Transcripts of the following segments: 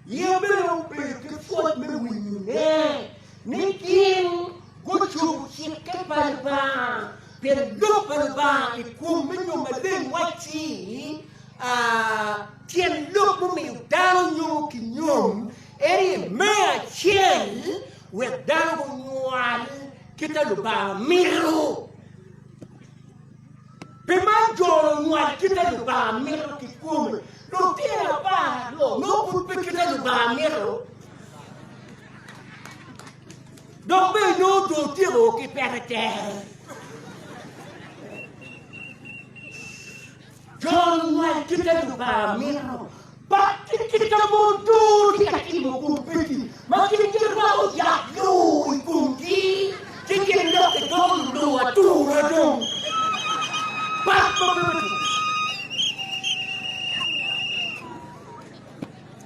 Yeya bene obedo ki pwoc me winyone ni gin gucubo cikke pa Lubanga pi lok pa Lubanga i kom me nyo maleng wacci tyen lok mumiyo dano nyomo ki nyom eri me acel wek dano gunywal kita Lubanga mito. Pi man jolo nywal kite Lubanga mito kikome. Lutino apar aryo nongo pud pe kite Lubanga mito. Dok be nongo dong otyeko ki pete tere. Jon ngwec ki ka Lubanga mito, bak ki kit ka mon tur tye ka timo kun peki ma gin girwako yat lur i komgi, ci gin dok gidoko lulur atura dong. Bak ma bedo tur.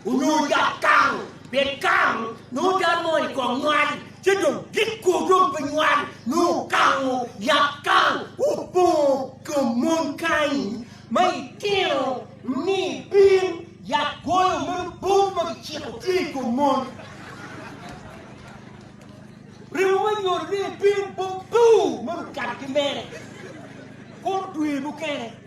onyo yat karo, pien karo nongo dano mo i kong nywal, ci dong gik ko dong pe nywal, nongo karo, yat karo, opongo kom mon kany, ma itino ni pir yat goyo meno bot ma kiciko tye i kom mon. Remo me nyodo ni pir bot bur ma okato ki mere, koro dwe mukene.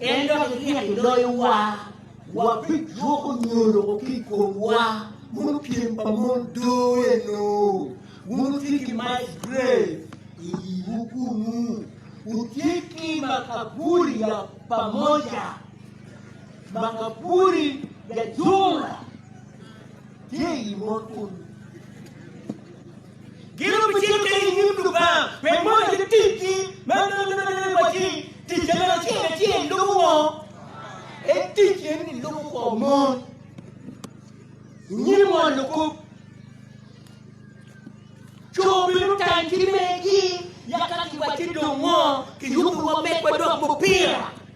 En dok ityeko iloyowa, wabijuko nyo loko ki i komwa mono pyem pa mon doo eno. Wun wutye ki Miles Gray i yiwu kunnu, wutye ki makaburi ya pamoja, makaburi ya jumla tye i yi mon kunnu. Gin obicito kene i nyim Lubanga pi moyo ki ticgi me miniminine wa ci ticce bene acel acel lubo woko. En ticce ni lubo kwo mon i nyim won lukup. Co bene otang ki megi yaka kiwacci dong ngo kiyubo wa megwa dok mupira.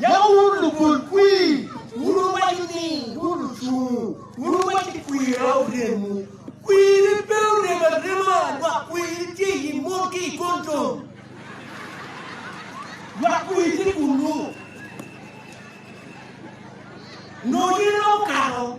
Yam wun lugolkwir, wun wuwaco ni wun ocungu, wun wuwaco ni kwir aye oremwu. Kwiri pe orem arema, lwak kwiri tye i mot ki i kondom. Lwak kwiri tye kunnu, nongo gin dong okato.